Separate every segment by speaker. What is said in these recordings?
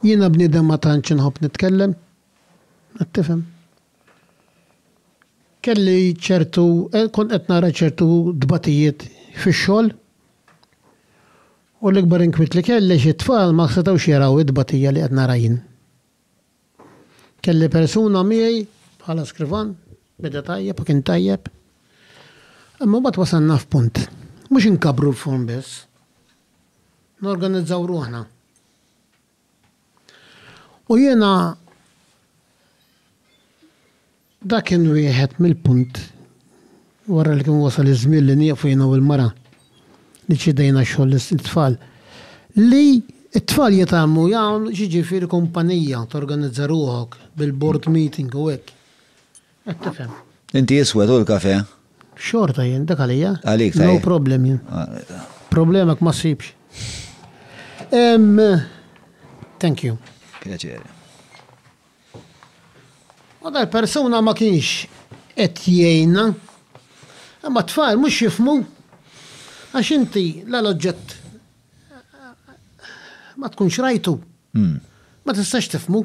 Speaker 1: Jiena bniedem ma tantx inħobb nitkellem, qed tifhem. Kelli ċertu, kont qed nara ċertu tbatijiet fix-xogħol u l-ikbar inkwiet li kelli għax it-tfal ma setgħux jaraw it-tbatija li qed nara jien. Kelli persuna miegħi bħala skrivan, beda tajjeb u kien tajjeb. Imma mbagħad wasalna f'punt, mhux inkabbru l-furn biss, norganizzaw ruħna. U jiena dak kien wieħed mill-punt wara li kien wasal iż-żmien li nieqfu jiena u l-mara li ċedejna xogħol it-tfal li t-tfal jitgħallmu jagħmlu jiġifieri kumpanija torganizza ruħok bil-board meeting u hekk. Qed tifhem. Inti iswed u
Speaker 2: l-kafè? Xorta jien,
Speaker 1: dak għalija. Għalik ta' No problem jien. Problemek ma ssibx. Ehm Thank you. Pjaċir. U dal-persuna ma kienx qed jgħinna. Imma t-tfal mhux jifmu għax inti la l-oġġett ma tkunx rajtu. Ma tistax tifmu.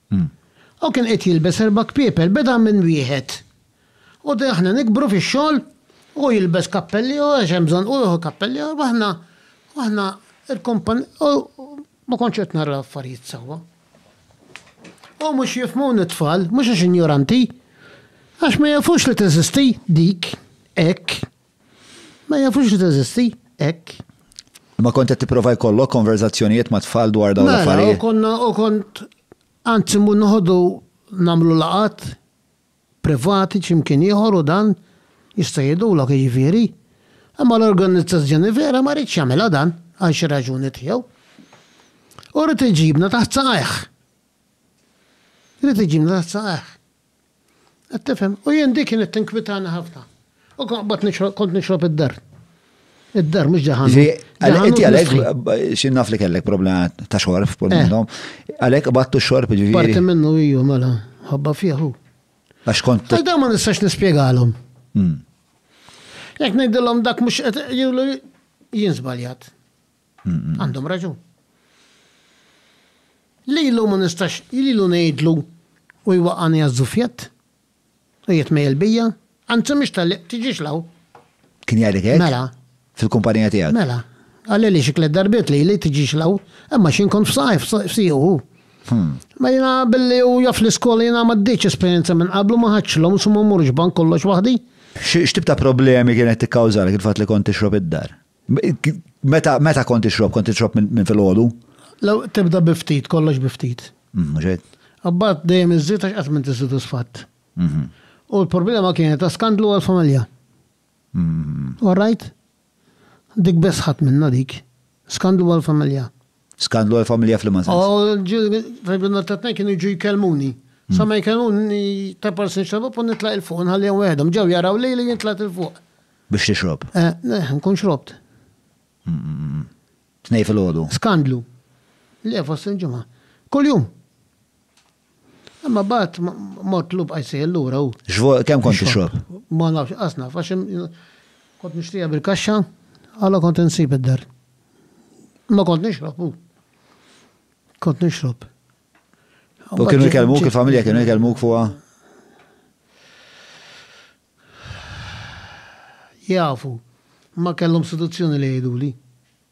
Speaker 1: Hu kien qed jilbes erba' kpiepel, beda minn wieħed. U d' aħna nikbru fix-xogħol, hu jilbes kappell ieħor għax hemm bżonn, hu jieħu kappell ieħor, u aħna, u aħna rkompon, u ma kontx qed nara affarijiet sewwa. U mhux jifhmuni t-tfal, mhux għax injoranti, għax ma jafux li teżisti dik hekk, Ma jafux li teżisti, hekk. Imma kont
Speaker 2: qed tipprova jkollok konverżazzjonijiet mat-tfal dwar dawn l-affarijiet? Mela, u konna u kont
Speaker 1: anzi mmur noħodhu nagħmlu laqgħat privati xi mkien ieħor u dan jista' jgħidulok jiġifieri. Imma l-organizzazzjoni vera ma riedx jagħmilha dan għal xi raġuni tiegħu. U ried iġibna taħt saqajh. Ried iġibna taħt saqajh. Qed tifhem? U jien dik kienet tinkwitani ħafna. U kont nixrob kont nixrob id-dar. Id-dar mhux ġaħan. Inti għalhekk
Speaker 2: xi naf li kellek problema ta' xorb kull eh. minnhom. Għalhekk battu xorb ġifieri. Parti minnu hiju mela
Speaker 1: ħobba fieħu. Għax kont.
Speaker 2: Għal ma nistax
Speaker 1: nispjegalhom. Hmm. Jekk ngħidilhom dak mhux qed jgħidu jien żbaljat. Għandhom raġun. Lilu ma nistax lilu ngħidlu u jwaqqagħni għaż-żuffjett u jitmejjel bija, anzi mhix tal-li tiġix 'l hawn. Kien jgħidlek
Speaker 2: hekk? Mela. Fil-kumpanija
Speaker 1: tiegħek?
Speaker 2: Mela. Qalili
Speaker 1: xi tliet darbiet lili tiġix 'l hawn, imma xi nkun f'saqajh f'siequ hu. Ma jiena billi hu jaf l-iskola jiena m'għaddejtx esperjenza minn qablu ma ħadtx loans u ma mmurx bank kollox waħdi. X'tip ta'
Speaker 2: problemi kienet tikkawżalek il-fatt li kont tixrob id-dar? Meta meta kont ixrob, kont ixrob minn filgħodu? Law tibda
Speaker 1: bi ftit, kollox bi ftit. Mhux hekk?
Speaker 2: Imbagħad dejjem
Speaker 1: iżżid għax qatt m'inti sodisfatt. U l-problema kienet ta' skandlu għall-familja. All right? Dik biss ħadt minnha dik. Skandlu għall-familja. Skandlu għal
Speaker 2: familja fl-imazin. Oh, fil-binna
Speaker 1: ta' tnejn kienu ġu jkelmuni. Hmm. Sa ma jkelmuni ta' parsin xrabu pun nitlaq il-fuq, nħalli għom għedhom, ġew jaraw li li jintlaq il-fuq. Biex tixrob?
Speaker 2: Eh, eh nkun xrobt.
Speaker 1: Hmm, hmm,
Speaker 2: Tnej fil-ħodu. Skandlu.
Speaker 1: Le, fost il-ġumma. Kull-jum. Imma bat mort lub għajsejja l-lura u. Xvo, kem kont t-xrob?
Speaker 2: Ma nafx, asna,
Speaker 1: faxem, kont nishtija bil-kaxxa, għala kont nsib id-dar. Ma kont nixrob u. Kont nixrob.
Speaker 2: U kienu jkellmuk, il-familja kienu jkellmuk fuqa?
Speaker 1: Jafu, ma kellhom seduzzjoni li jgħiduli.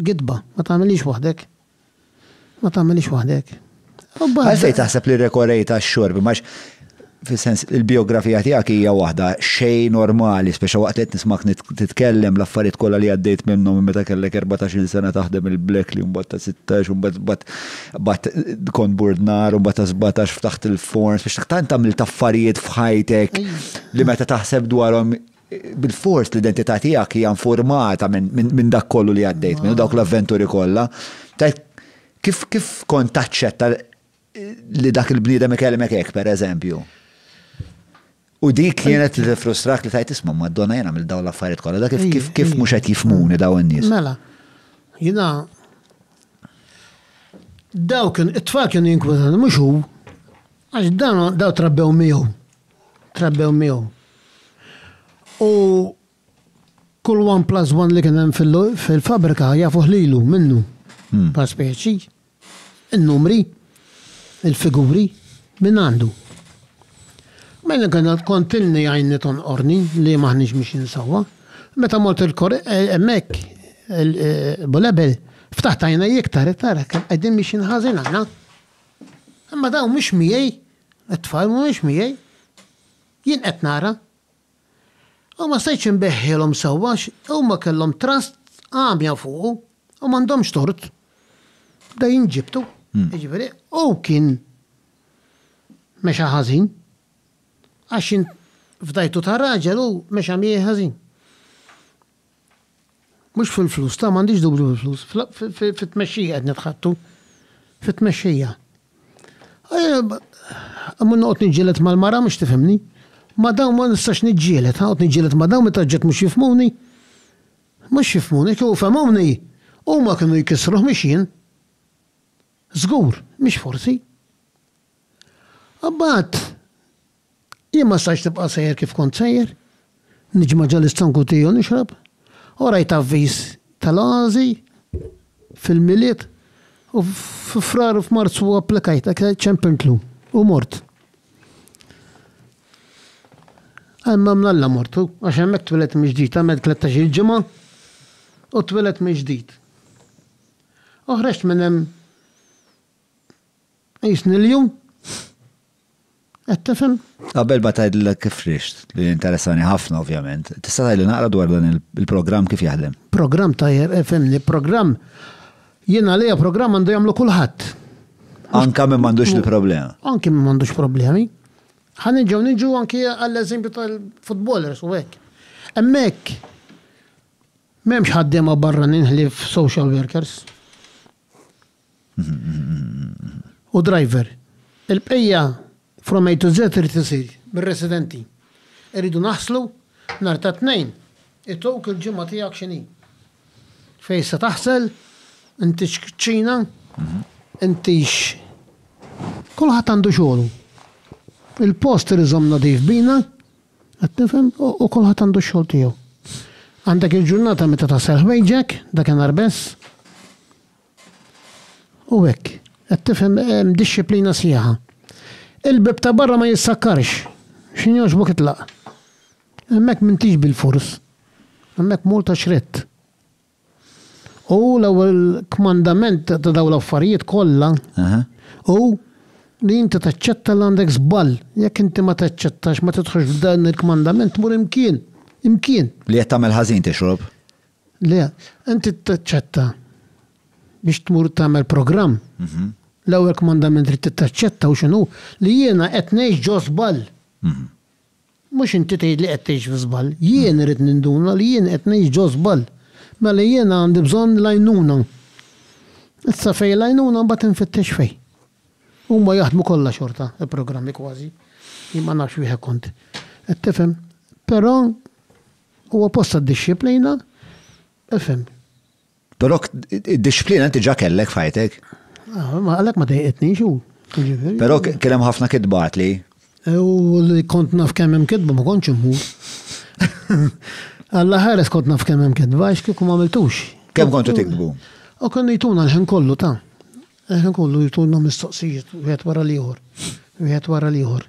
Speaker 1: Gidba, ma tagħmilhiex waħdek. Ma tagħmilhiex waħdek.
Speaker 2: Għalfejn taħseb li rekorejt għax-xorb, max fis-sens il-biografija tiegħek hija waħda xejn normali, speċa waqt li qed nismak titkellem l-affarijiet kollha li għaddejt minnhom meta kellek 14-il sena taħdem il-blek li mbagħad ta' 16 u mbagħad bat kont burdnar u mbagħad ta' 17 ftaħt il-forns biex tant tagħmel affarijiet f'ħajtek li meta taħseb dwarhom Bilfors l-identità tiegħek hija infurmata minn dak kollu li għaddejt minnu, dawk l-avventuri kollha. Kif kif kont taċċetta li dak il-bniedem ikellmek hekk pereżempju? U dik kienet li tifrustrak li tajt isma' Madonna jien għamil dawn l-affarijiet kollha, dak kif kif mhux qed jifmuni dawn in-nies. Mela,
Speaker 1: jiena dawk it-tfal kienu jinkwetawni mhux hu għax dawn trabbew miegħu. trabbew miegħu. U kull one plus one li kien hemm fil-fabrika jafuh lilu minnu hmm. pa' speċi, in-numri, il-figuri, minn għandu. Mela kien kontinni għajni tonqorni li maħniġ miex insawa. Meta mort il-kor eh, emmek eh, bulebel ftaħt għajna jiktar iktar għedin biex inħazin għana. Imma daw mux miej It-tfal mhumiex miegħi. Jien qed nara. U ma stajtx inbeħħilhom sewwa għax huma kellhom trust għamja fuqu u m'għandhomx tort. Bda jinġibdu, jiġifieri hu kien mexa ħażin. Għax int fdajtu ta' raġel u mexa miegħi ħażin. Mhux fil-flus, ta' m'għandix dubju fil-flus, fit-tmexxija qed nitħattu. Fit-tmexxija. Imma noqgħod niġġieled mal-mara mhux tifhimni. Ma dawn ma nistax niġġieled, ħaqgħod niġġieled ma dawn meta ġġet mhux jifhmuni. Mhux jifhmuni, kieku fehmuni, huma kienu jkissruh mhux jien. Żgur, mhux forsi. Imbagħad, Jien ma stajtx nibqa' sejjer kif kont sejjer, niġma' ġo l-istonk u tea u nixrob, u rajt avviż tal-għażi fil-Milied u fi Frar u f'Marzu applikajt dak li ċempltlu u mort. Għall-mnha mnalla mort u għax hemmhekk tweled mill-ġdid, għamilt tlettax-il ġimgħa u tweled mill-ġdid. U ħreġt minn hemm Qisni l-ju? Qed tifhem? Qabel ma tgħidlek
Speaker 2: kif rixt, li interessani ħafna ovvjament, tista' tgħidli naqra dwar dan il-programm kif jaħdem? Programm tajjeb, fehmni,
Speaker 1: programm jien għalija programm għandu jagħmlu kulħadd. Anka
Speaker 2: minn m'għandux il-problema. Anki minn m'għandux
Speaker 1: problemi. Ħan ġew niġu anki għall-eżempju tal-futbolers u hekk. Hemmhekk m'hemmx ħaddiema barra ninħlif social workers. u driver. Il-bqija from A to Z irid isir mir-residenti. Irridu naħslu nhar ta' Tnejn. Ituk il-ġimgħa tiegħek x'inhi. Fejn se taħsel, intix kċina, intix Kulħadd għandu xogħlu. Il-post irid iżomm nadif bina, Qed tifhem? U kulħadd għandu x-xogħol tiegħu. Għandek il-ġurnata meta taħsel ħwejġek, dakinhar biss. U hekk. Qed tifhem hemm dixxiplina sħiħa. Il-bieb ta' barra ma jissakkarx. X'in jogħġbok itlaq. Hemmhekk m'intix bil-fors. Hemmhekk mur ta' xrett. U l-ewwel kmandament ta' dawn l-affarijiet kollha hu li inti taċċetta li għandek żball. Jekk inti ma taċċettax, ma tidħolx f'dan il-kmandament, tmur imkien, imkien. Li qed tagħmel ħażin
Speaker 2: tixrob. Le,
Speaker 1: inti taċċetta biex tmur tagħmel programm. L-ewwel kmandament li trid taċċetta hu x'inhu? Li jiena qed ngħix ġo żball. Mhux inti tgħid li qed tgħix fi żball. Jien irrid ninduna li jien qed ngħix ġo żball. Mela jiena għandi bżonn l-għajnuna. Issa fejn l-għajnuna mbagħad infittex fejn? Huma jaħdmu kollha xorta, il-programmi kważi. Jien ma nafx wieħed kont. Qed tifhem? Però huwa post għad-dixxiplina, ifhem.
Speaker 2: Però id-disciplina inti ġa kellek fajtek. Ah, għalek
Speaker 1: ma dejqetni xu. Però kien
Speaker 2: hemm ħafna kitbat li. U li
Speaker 1: kont naf kemm hemm kitba ma kontx immur. Alla ħares kont naf kemm hemm kitba għax kieku ma għamiltux. Kemm kontu tikbu?
Speaker 2: U kien jtuna
Speaker 1: l-ħin kollu ta' Ħin kollu jtulna mistoqsijiet wieħed wara l-ieħor, wieħed wara l-ieħor.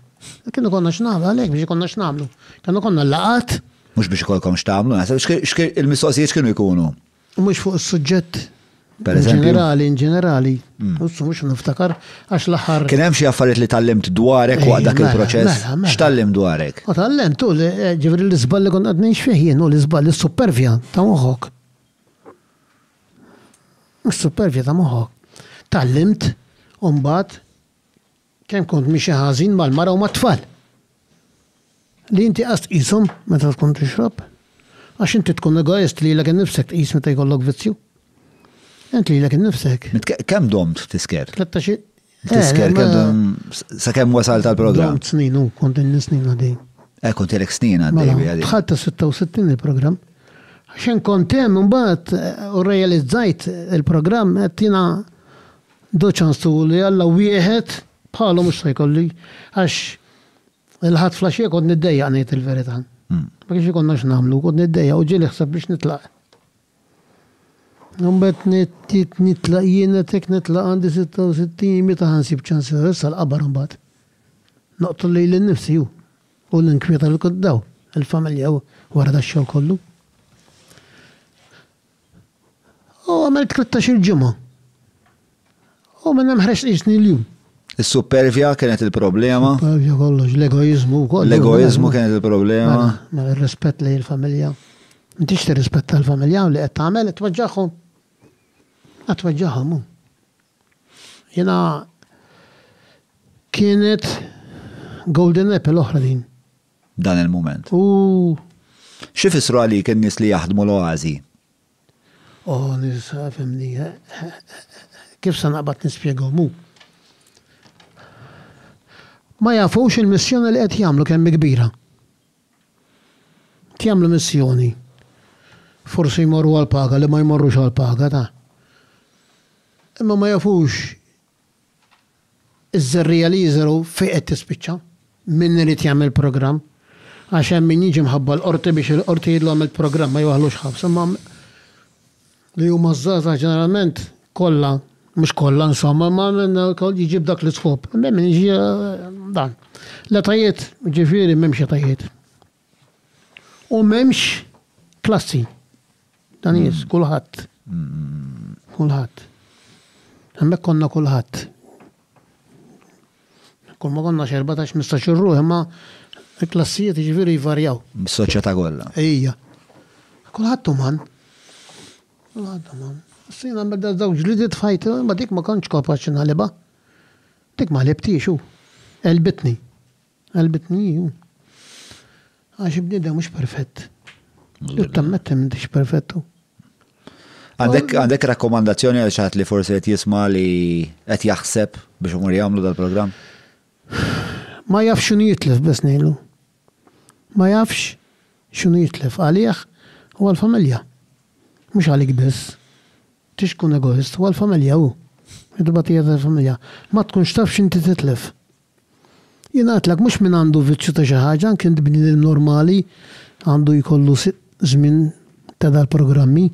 Speaker 1: Kien ikollna x'nagħmlu, għalhekk biex ikollna x'nagħmlu. Kemm ikollna l-laqgħat. Mhux biex ikollkom
Speaker 2: x'tagħmlu, naħseb. Il-mistoqsijiet x'kienu
Speaker 1: jkunu?
Speaker 2: Mhux fuq is-suġġett ġenerali, in ġenerali.
Speaker 1: Wissu mhux niftakar għax l-aħħar. Kien hemm xi affarijiet li
Speaker 2: tgħallimt dwarek waqt dak il-proċess? X'tgħallimt dwarek? Tgħallimt,
Speaker 1: ġifieri l-iżball li kont qed ngħix fih jien u l-iżball, is-supervja ta' moħħok. Mis-supervja ta' moħħok tgħallimt imbagħad kemm kont miexi ħażin mal-mara u mat-tfal. Li inti qas tqishom meta tkun tixrob. Għax inti tkun egoist lilek innifsek tqis meta jkollok vizzju. Int lilek innifsek. Kemm domt
Speaker 2: tisker?
Speaker 1: Tisker,
Speaker 2: kellum sa' kem wasal tal-program. Kont snin u kont
Speaker 1: snin għadej. Eh, kont jelek snin
Speaker 2: għadej. Mela, Tħatta
Speaker 1: 66 il-program. Xen kontem mbagħad eh, u realizzajt il-program qed jiena doċanstu li għalla wieħed bħalhom mhux se jkolli għax il-ħadd flaxxija kont niddejja ngħid il-verità. Hmm. Ma kienx ikonna x'nagħmlu, kont niddejja u ġieli ħseb biex nitlaq. Imbagħad nittiet nitlaq jien qed hekk nitlaq għandi sitta u sittin meta ħa nsib ċans ħares sal-qabar imbagħad. Noqtol lili nnifsi hu u ninkwieta lil kulħadd hawn, il-familja u wara dax-xogħol kollu. U għamilt tlittax-il ġimgħa. U minn hemm ħreġt qisni l-jum. Is-suppervja
Speaker 2: kienet il-problema. Suppervja kollox,
Speaker 1: l-egoizmu kollox. L-egoizmu kienet
Speaker 2: il-problema. Mela, mela ir-rispett
Speaker 1: lejn il-familja. Intix tirrispetta l-familja li qed tagħmel qed tweġġagħhom. Qed tweġġagħhom hu. Jiena kienet golden apple l-oħra din. Dan il-mument.
Speaker 2: U xi fissru għalik in-nies li jaħdmu l-oażi?
Speaker 1: Oh nisa fimni kif se naqbad nispjegahom hu. Ma jafux il-missjoni li qed jagħmlu kemm hi kbira. Qed jagħmlu missjoni. Forsi jmorru għall-paga li ma jmorrux għall-paga ta. Imma ma jafux Iż-żerriegħa li jiżrgħu fejn qed tispiċċa? Min irid jagħmel programm? Għax hemm min jiġi mħabba l-Qorti biex il-Qorti jgħidlu għamilt programm, ma jwaħħlux ħabs. Imma li huma ż-żgħażagħ ġeneralment kollha, mhux kollha insomma, imma minn wkoll jiġi b'dak l-iskop. Hemm min jiġi dan. L-etajiet, ġifieri m'hemmx etajiet. U m'hemmx klassi ta' nies, mm. kulħadd. Mm. Kulħadd. Hemmhekk konna kulħadd. Kull ma konna xerba ta' xmista xirru, imma klassijiet ġifieri jvarjaw. Soċjetà kollha.
Speaker 2: Ejja.
Speaker 1: Kulħadd uman. Kulħadd uman. Sina medda żewġ li dit fajt, ma dik ma kontx kapaċi naliba. Dik ma libtix u. Elbitni. Qalbitni hi. Għax il-bniedem mhux perfett. Ġud tammetti m'intix perfettu.
Speaker 2: Għandek rakkomandazzjoni għal xaħat li forsi qed jisma' li qed jaħseb biex umur jagħmlu dal-programm?
Speaker 1: Ma jafx x'inhu jitlef biss ngħidlu. Ma jafx x'inhu jitlef għalih u għall-familja. Mhux għalik biss. Tix tkun egoist, u għall-familja hu. Id-dibatija tal-familja. Ma tkunx taf x'inti titlef. Jingħatlek mhux min għandu vizzju ta' xi ħaġa, anke bniedem normali għandu jkollu żmien ta' dal-programmi.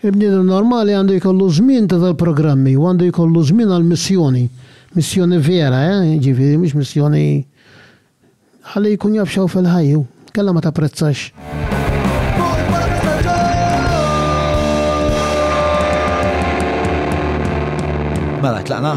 Speaker 1: Il-bniedem normali għandu jkollu żmien ta' dal-programmi u għandu jkollu żmien għal missjoni. Missjoni vera, eh, ġifieri mhux missjoni Ħalli jkun jaf x'hawn fil-ħajja hu. Kellha ma tapprezzax.
Speaker 2: Mela, tlaqna?